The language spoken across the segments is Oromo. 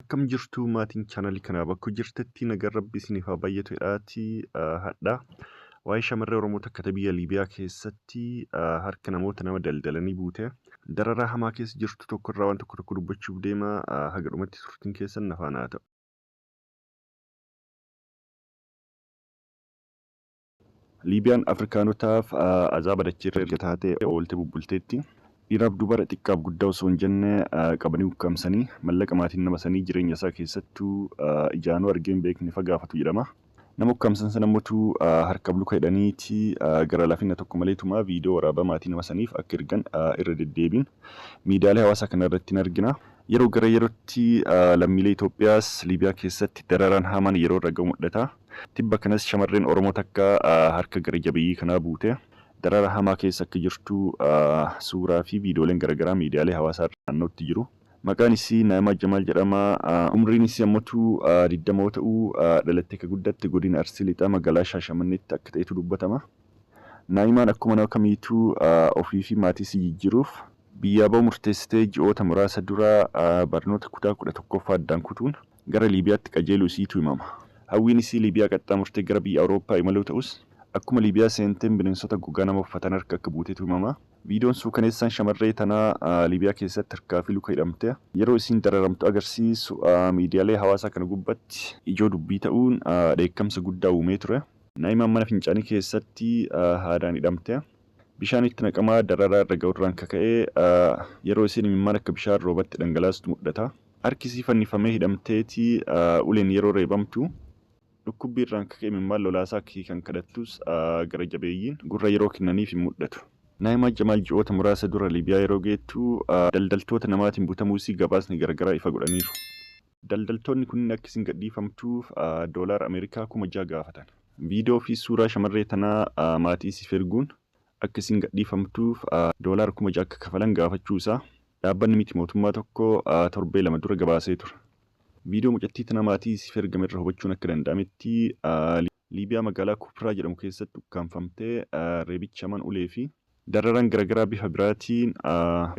Akkam jirtu maatiin chaanalii kanaa bakka jirtetti nagaan rabbi isiniif haa baay'atu jedhaati hadha. Waa'ee shamarree Oromoo takka ta'e biyya Liibiyaa keessatti harka namoota nama daldalanii buute dararaa hamaa keessa jirtu tokko irraa waan tokko tokko dubbachuuf deema haga dhumatti turtiin keessan nafaan haa ta'u. Liibiyaan Afrikaanotaaf azaaba dacheerra erga taatee ooltee bubbulteetti. Dhiiraaf dubara, xiqqaaf guddaa osoo hin jenne qabanii ukkaamsanii, mallaqa maatiin nama sanii jireenya isaa keessattuu ijaanuu argee hin beekne fa gaafatu jedhama. Nama ukkaamsan sana motu harkaaf luka hidhaniiti gara lafina tokko malee tumaa viidiyoo waraabaa maatii nama saniif akka ergan irra deddeebiin miidiyaalee hawaasaa kana irratti ni argina. Yeroo gara yerootti lammiilee Itoophiyaas Liibiyaa keessatti dararaan hamaan yeroo irra gahu mul'ata. Tibba kanas shamarreen Oromoo takka harka gara jabeeyyii kanaa buute darara hamaa keessa akka jirtu suuraa fi viidiyooleen garagaraa miidiyaalee hawaasaa irra naannootti jiru. Maqaan isii Naa'imaa Jamaal jedhama. Umriin isii ammotu 20 yoo ta'u dhalattee ka guddatte godina Arsii Lixaa magaalaa Shaashamanneetti akka ta'etu dubbatama. Naa'imaan akkuma nama kamiitu ofii fi maatii isii jijjiiruuf biyyaa ba'uu murteessite ji'oota muraasa dura barnoota kutaa 11ffaa addaan kutuun Gara Liibiyaatti qajeeluu isiitu himama. Hawwiin isii Liibiyaa qaxxaamurtee gara biyya Awurooppaa imaluu ta'us, akkuma Liibiyaa seenteen bineensota gogaa nama uffatan harka akka buutetu himama. Viidiyoon suukaneessaan shamarree tanaa Liibiyaa keessatti harkaa fi luka hidhamtee yeroo isiin dararamtu agarsiisu miidiyaalee hawaasaa kana gubbatti ijoo dubbii ta'uun dheekkamsa guddaa uumee ture. Naa'imaan mana fincaanii keessatti haadaan hidhamtee bishaan itti naqamaa dararaa irra ga'urraan ka ka'e yeroo isiin imimmaan akka bishaan roobatti dhangalaastu mudhata. Harki isii fannifamee hidhamteeti uleen yeroo reebamtu. Dhukkubbii irraan ka ka'e imimmaan lolaasaa akka hiikan kadhattus gara jabeeyyiin gurra yeroo kennaniif hin mudhatu. Naa'imaa Jamaal ji'oota muraasa dura Liibiyaa yeroo geettu daldaltoota namaatiin butamuu isii gabaasni garagaraa ifa godhaniiru. Daldaltoonni kunniin akka isiin gadhiifamtuuf doolaara Ameerikaa kuma jaha gaafatan. Viidiyoo fi suuraa shamarree tanaa maatii isiif erguun akka isiin gadhiifamtuuf doolaara 6,000 akka kafalan gaafachuu isaa dhaabbanni miti mootummaa tokko torbee lama dura gabaasee ture. Viidiyoo mucattii tana maatii isiif ergame irra hubachuun akka danda'ametti Liibiyaa magaalaa Kupraa jedhamu keessatti ukkaamfamtee reebichi hamaan ulee fi dararaan garagaraa bifa biraatiin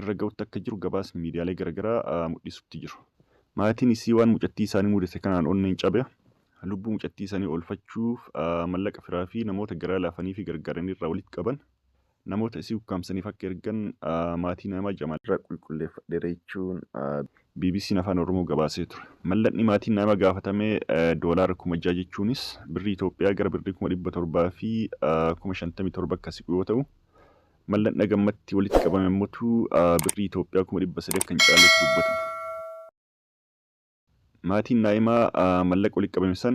irra ga'utti akka jiru gabaasni miidiyaalee garagaraa mudhisutti jiru. Maatiin isii waan mucattii isaanii mudate kanaan onneen cabe. lubbuu mucattii sanii oolfachuuf mallaqa firaa fi namoota garaa laafanii fi gargaaran irraa walitti qaban namoota isii ukkaamsaniif akka ergan maatii nama Jamaal irraa qulqulleeffadheera jechuun BBC'n Afaan Oromoo gabaasee ture. Mallaqni maatiin nama gaafatame doolaara kuma ja'a jechuunis birrii Itoophiyaa gara birrii kuma dhibba torbaa fi kuma shantamii torba akka siqu yoo ta'u, mallaqni haga ammatti walitti qabame ammotu birrii Itoophiyaa kuma dhibba sadii akka hin caalletu dubbatama. Maatiin Naa'imaa mallaqa walitti qabame san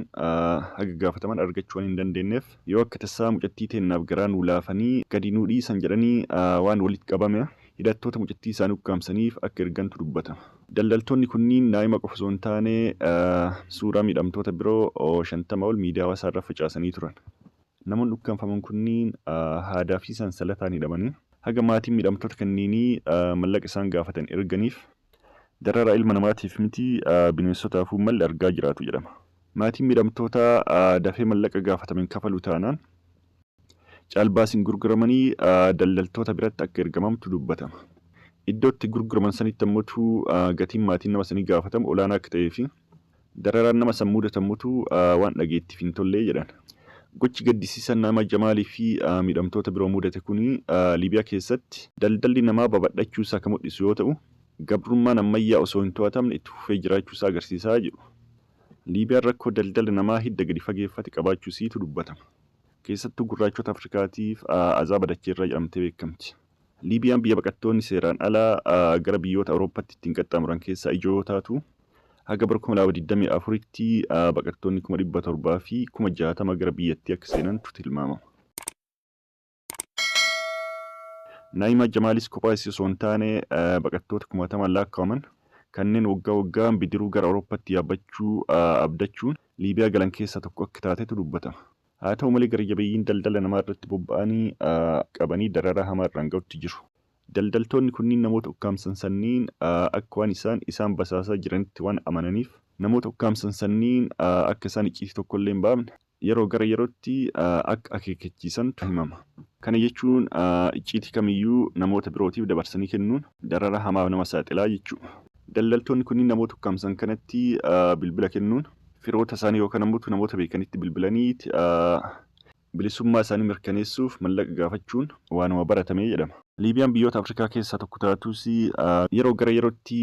haga gaafataman argachuu waan hin dandeenneef, yoo akka tasaa mucattii teennaaf garaa nuu laafanii gadi nuu dhiisan jedhanii waan walitti qabame hidhattoota mucattii isaanii ukkaamsaniif akka ergantu dubbatama. Daldaltoonni kunniin Naa'ima qofa osoo hin taane suuraa miidhamtoota biroo 50 ol miidiyaa hawaasaa irra facaasanii turan. Namoonni ukkaamfaman kunniin haadaa fi sansalataan hidhamanii haga maatiin miidhamtoota kanniinii mallaqa isaan gaafatan erganiif Dararaa ilma namaatiif miti bineensotaafuu malle argaa jiraatu jedhama. Maatiin miidhamtootaa dafee mallaqa gaafatame hin kafalu taanaan caalbaasiin gurguramanii daldaltoota biratti akka ergamamtu dubbatama. Iddoo itti gurguraman sanitti ammotuu gatiin maatiin nama sanii gaafatamu olaanaa akka ta'ee fi Dararaan nama san muudatamutu waan dhageettiif hin tolle, jedhan. Gochi gaddisiisaan Naama Jamaalii fi miidhamtoota biroo muudate kuni Liibiyaa keessatti daldalli namaa babadhachuu isaa ka mudhisu yoo ta'u, gabrummaan ammayyaa osoo hin to'atamne itti fufee jiraachuu isaa agarsiisa jedhu. Liibiyaan rakkoo daldala namaa hidda gadi fageeffate qabaachuu isiitu dubbatama. Keessattuu gurraachota Afrikaatiif azaaba dacheerraa jedhamtee beekamti. Liibiyaan biyya baqattoonni seeraan alaa gara biyyoota Awurooppatti ittiin qaxxaamuran keessaa ijoo yoo taatu, haga bara 2024tti baqattoonni 700,000 fi 60,000 gara biyyattii akka seenantu tilmaamama. Naa'imaa Jamaalis kophaa isii osoo hin taane baqattoota kumaatamaan laakkawaman kanneen waggaa waggaan bidiruu gara Awurooppatti yaabbachuu abdachuun Liibiyaa galan keessaa tokko akka taatetu dubbatama. Haa ta'u malee gara jabeeyyiin daldala namaa irratti bobba'anii qabanii dararaa hamaa irraan ga'utti jiru. Daldaltoonni kunniin namoota ukkaamsan sanniin akka waan isaan isaan basaasaa jiranitti waan amananiif namoota ukkaamsan sanniin akka isaan icciitii tokko illee hin baafne yeroo gara yerootti akka akeekkachiisantu himama. Kana jechuun icciitii kamiyyuu namoota birootiif dabarsanii kennuun dararaa hamaaf nama saaxilaa jechuudha. Daldaltoonni kunniin namoota ukkaamsan kanatti bilbila kennuun firoota isaanii yookaan ammoo namoota beekanitti bilbilanii bilisummaa isaanii mirkaneessuuf mallaqa gaafachuun waanuma baratame jedhama. Liibiyaan biyyoota Afrikaa keessaa tokko taatus yeroo gara yerootti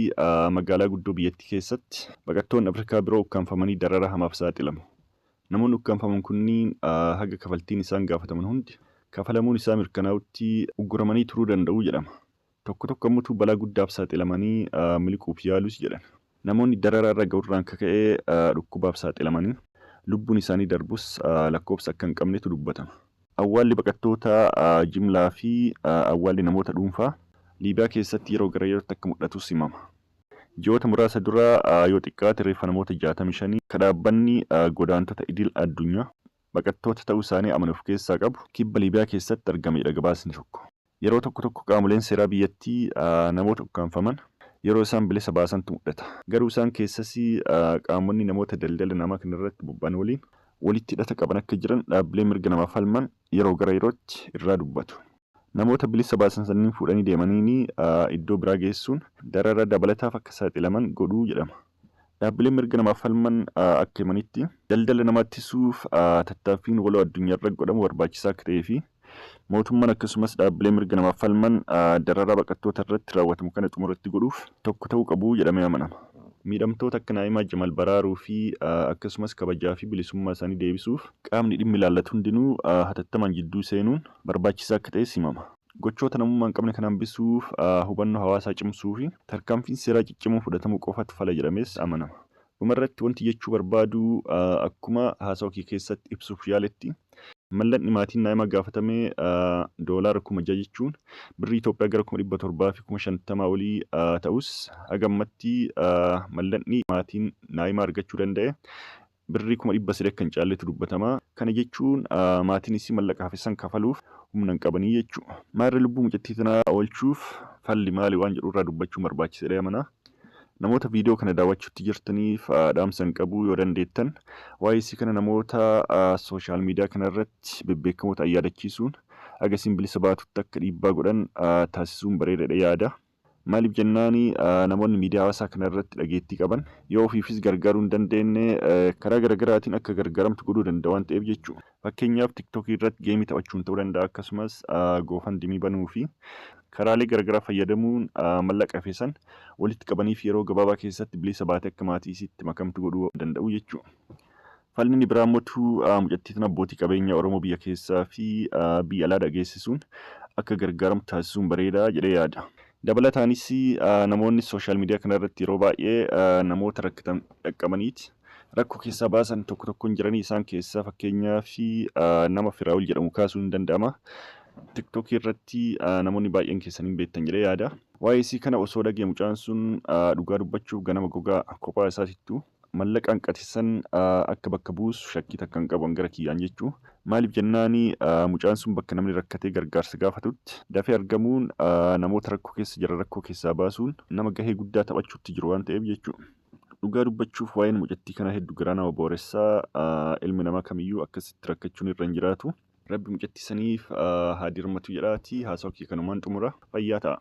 magaalaa guddoo biyyattii keessatti baqattoonni Afrikaa biroo ukkaamfamanii dararaa hamaaf saaxilamu. Namoonni ukkaamfaman kunniin haga kafaltiin isaan gaafataman hundi kafalamuun isaa mirkanaa'utti ugguramanii turuu danda'u jedhama. Tokko tokko ammotu balaa guddaaf saaxilamanii miliquuf yaalus jedhan. Namoonni dararaa irra ga'urraan kaka'ee dhukkubaaf saaxilamanii lubbuun isaanii darbus lakkoofsa akka hin qabnetu dubbatama. Awwaalli baqattoota jimlaa fi awwaalli namoota dhuunfaa Liibiyaa keessatti yeroo gara yerootti akka mul'atus himama. Ji'oota muraasa dura yoo xiqqaate reeffa namoota 65 ka dhaabbanni godaantota idil addunyaa baqattoota ta'uu isaanii amane of keessaa qabu Kibba Liibiyaa keessatti argameedha gabaasni tokko. Yeroo tokko tokko qaamoleen seeraa biyyattii namoota ukkaamfaman yeroo isaan bilisa baasantu mul'ata. Garuu isaan keessas qaamonni namoota daldala namaa kanarratti bobba'an waliin walitti hidhata qaban akka jiran dhaabbileen mirga namaaf falman yeroo gara yerootti irraa dubbatu. Namoota bilisa baasan sanniin fuudhanii deemaniin iddoo biraa geessuun darara dabalataaf akka saaxilaman godhu jedhama. Dhaabbileen mirga namaaf falman akka himanitti, daldala namaa ittisuuf tattaaffiin waloo addunyaarra godhamu barbaachisaa akka ta'ee fi mootummaan akkasumas dhaabbileen mirga namaaf falman dararaa baqattoota irratti raawwatamu kana xumura itti godhuuf tokko ta'uu qabu jedhamee amanama. Miidhamtoota akka Naa'imaa Jamal baraaruu fi akkasumas kabajaa fi bilisummaa isaanii deebisuuf qaamni dhimmi ilaallatu hundinuu hatattamaan jidduu seenuun barbaachisaa akka ta'es himama. Gochoota namummaa hin qabne kana hambisuuf hubannoo hawaasaa cimsuufi tarkaanfiin seeraa ciccimoo fudhatamuu qofatu fala jedhamees amanama. Dhumarratti wanti jechuu barbaadu akkuma haasawa kiyya keessatti ibsuuf yaaletti, mallaqni maatiin naa'imaa gaafatame doolaara kuma ja'a jechuun birrii Itoophiyaa gara kuma dhibba torbaa fi kuma shantamaa olii ta'us haga ammatti mallaqni maatiin naa'imaa argachuu danda'e Birrii kuma dhibba sadii akka hin caalletu dubbatama. Kana jechuun maatiin isii mallaqa hafe san kafaluuf humna hin qabanii jechuu. Maarree lubbuu mucattii tanaa oolchuuf falli maali waan jedhu irraa dubbachuun barbaachisa jedhee amana. Namoota viidiyoo kana daawwachuutti jirtaniif dhaamsan qabu yoo dandeettan waa'ee isii kana namoota sooshaal miidiyaa kana irratti bebbeekamoo ta'an yaadachiisuun haga isiin bilisa baatutti akka dhiibbaa godhan taasisuun bareeda jedhee yaada. Maaliif jennaan namoonni miidiyaa hawaasaa kana irratti dhageettii qaban yoo ofiifis gargaaruu hin dandeenye karaa garagaraatiin akka gargaaramtu godhuu danda'a waan ta'eef jechuudha. Fakkeenyaaf tiktokii irratti geemii taphachuun ta'uu danda'a akkasumas goofandimii banuu fi karaalee garagaraa fayyadamuun mallaqa hafe san walitti qabaniif yeroo gabaabaa keessatti bilisa baatee akka maatii isiitti makamtu godhuu danda'u jechuudha. Falli inni biraa immoo tu mucattii tana abbootii qabeenyaa Oromoo biyya keessaa fi biyya alaa dhageessisuun akka gargaaramu taasisuun bareeda jedhee yaada. Dabalataanis namoonni social media kana irratti yeroo baay'ee namoota rakkatan dhaqqabaniiti rakkoo keessaa baasan tokko tokkoon jiranii isaan keessaa fakkeenyaaf nama Firaa'ol jedhamu kaasuun hin danda'ama. TikTok irratti namoonni baay'een keessan hin beektan jedhee yaada. Waa'ee isii kana osoo dhagee mucaan sun dhugaa dubbachuuf ganama gogaa kophaa isaatittuu mallaqa hanqate san akka bakka buusu shakkii takka hin qabu an gara kiyyaan jechuu maaliif jennaani mucaan sun bakka namni rakkatee gargaarsa gaafatutti dafee argamuun namoota rakkoo keessa jiran rakkoo keessaa baasuun nama gahee guddaa taphachuutti jiru waan ta'eef jechuu dhugaa dubbachuuf waa'een mucattii kanaa heddu garaa nama booressaa ilmi namaa kamiyyuu akkasitti rakkachuun irra hin jiraatu rabbi mucattii saniif haa dirmatu jedhaati haasawa kiyya kanumaan xumura fayyaa ta'a.